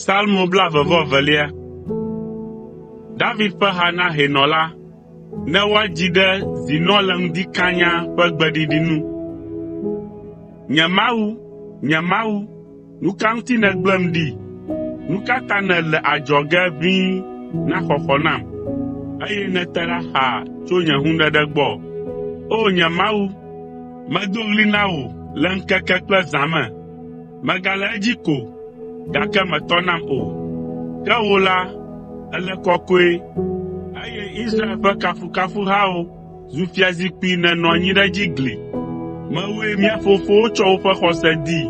Salmo blaeve-vɔ-evelia. David ƒe ha na hɛnɔ la. Ne woadzi ɖe “Zinɔ le ŋdi kanya” ƒe gbeɖiɖi nu. Nye Mawu, nye Mawu, Nu ka ŋuti nègblẽm ɖi? Nu ka ta nèle adzɔge ʋĩi na xɔxɔ nam, eye nète ɖa xaa tso nye hũɖeɖe gbɔ? O nye Mawu, medo ɣli na wò le ŋkeke kple zã me. Megale edzi ko, gake mètɔ nam o. Ke wò la, èle kɔkɔe, eye Israel ƒe kafukafuhawo zu fiazikpui nènɔ anyi ɖe edzi gli. Mewòe mía fofowo tsɔ woƒe xɔse dii.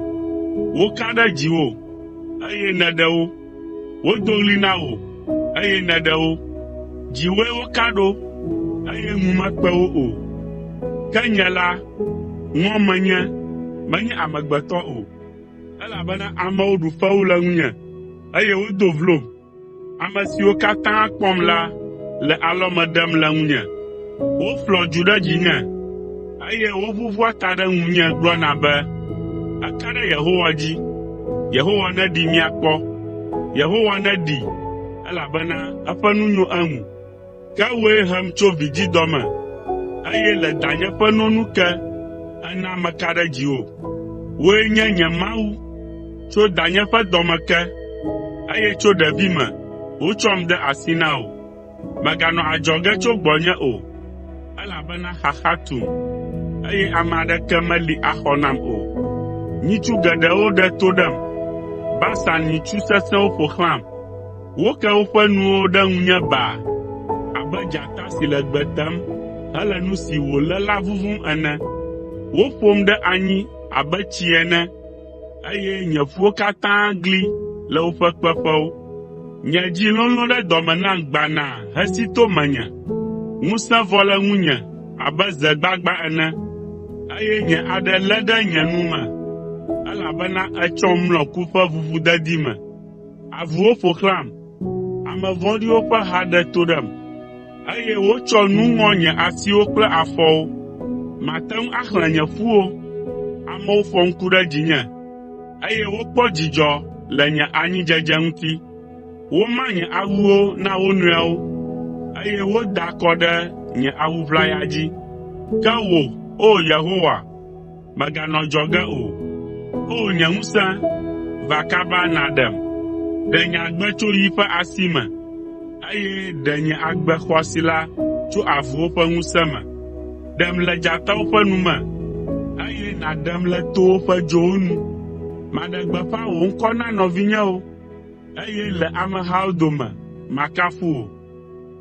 Woka ɖe dziwò, eye nèɖe wo. Wodo ɣli na wò, eye nèɖe wo. Dziwòe woka ɖo, eye ŋu mekpe wo o. Ke nye la, ŋɔ menye, menye amegbetɔ o, elabena amewo ɖu fewu le ŋunye, eye wodo vlom. Ame siwo katã kpɔm la le alɔme ɖem le ŋunye. Woƒlɔa dzu ɖe dzinye, eye woʋuʋua ta ɖe ŋunye gblɔna be, “Eka ɖe Yehowa dzi! Yehowa neɖee míakpɔ! Yehowa neɖee, elabena eƒe nu nyo eŋu!” Ke wòe hem tso vidzidɔ me, eye le danye ƒe no nu ke, èna meka ɖe dziwò. Wòe nye nye Mawu tso danye ƒe dɔme ke, eye tso ɖevime wotsɔm de asi na wò. Mèganɔ adzɔge tso gbɔnye o, elabena xaxa tum, eye ame aɖeke meli axɔ nam o. Nyitsu geɖewo ɖe to ɖem, Basan nyitsu sesẽwo ƒo xlãm. Woke woƒe nuwo ɖe ŋunye baa abe dzata si le gbe tem hele nu si wòlé la vuvum ene. Woƒom ɖe anyi abe tsi ene, eye nye ƒuwo katã gli le woƒe kpeƒewo. Nye dzi lolõ ɖe dɔme nam gbanaa hesi to menye. Ŋusẽ vɔ le ŋunye abe ze gbagbã ene, eye nye aɖe lé ɖe nye nu me, elabena ètsɔm mlɔ ku ƒe ʋuʋudedi me. Avuwo ƒo xlãm, ame vɔ̃ɖiwo ƒe ha ɖe to ɖem, eye wotsɔ nu ŋɔ nye asiwo kple afɔwo. Màte ŋu axlẽ nye ƒuwo. Amewo fɔ ŋku ɖe dzinye, eye wokpɔ dzidzɔ le nye anyidzedze ŋuti. Woma nye awuwo na wo nɔewo, eye woda akɔ ɖe nye awu ʋlaya dzi. Ke wò, O Yehowa, Mèganɔ adzɔge o. O nye ŋusẽ, va kaba nàɖem! Ɖe nye agbe tso yi ƒe asi me, eye ɖe nye agbe xɔasi la tso avuwo ƒe ŋusẽ me. Ɖem le dzatawo ƒe nu me, eye nàɖem le towo ƒe dzowo nu. Maɖe gbeƒã wò ŋkɔ na nɔvinyewo, eye le amehawo dome makafu wò.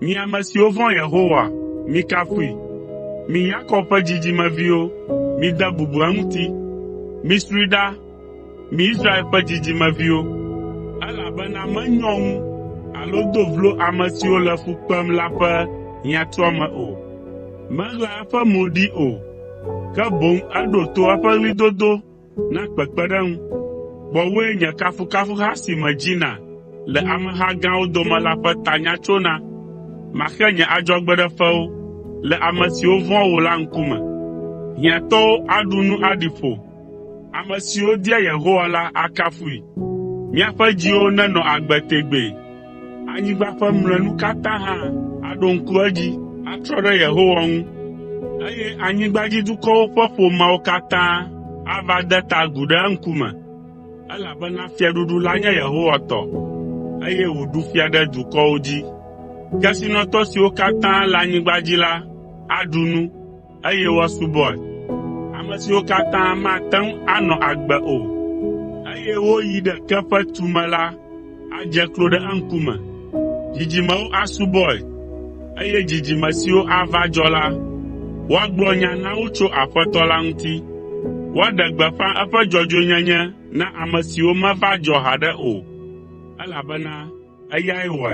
Mi ame siwo vɔ̃a Yehowa, mikafui! Mi Yakob ƒe dzidzimeviwo, mide bubu eŋuti! Misroe ɖa, mi Israel ƒe dzidzimeviwo! Elabena menyɔ ŋu alo do vlo ame siwo le fu kpem la ƒe hiãtuame o. Meɣlaa eƒe mo ɖi o, ke boŋ eɖo to eƒe ɣlidodo Na kpekpeɖeŋu. Gbɔwòe nye kafukafuha si medzina le ameha gãwo dome la ƒe tanya tsona. Maxe nye adzɔgbeɖefewo le ame siwo vɔ̃a wò la ŋkume. Hiãtɔwo aɖu nu aɖi ƒo. Ame siwo dia Yehowa la akafui. Míaƒe dziwo nenɔ agbe tegbee! Anyigba ƒe mlɔenu katã hã aɖo ŋku edzi atrɔ ɖe Yehowa ŋu, eye anyigbadzidukɔwo ƒe ƒomeawo katã ava de ta agu ɖe eŋkume, elabena fiaɖuɖu la nye Yehowa tɔ, eye wòɖu fia ɖe dukɔwo dzi. Kesinɔtɔ siwo katã le anyigba dzi la aɖu nu. eye woasubɔe, ame siwo katã mate ŋu anɔ agbe o, eye woyi ɖe ke ƒe tume la adze klo ɖe eŋkume. Dzidzimewo asubɔe, eye dzidzime siwo ava dzɔ la, woagblɔ nya na wo tso Aƒetɔ la ŋuti. Woaɖe gbeƒã eƒe dzɔdzɔenyenye na ame siwo meva dzɔ haɖe o, elabena eyae wɔe.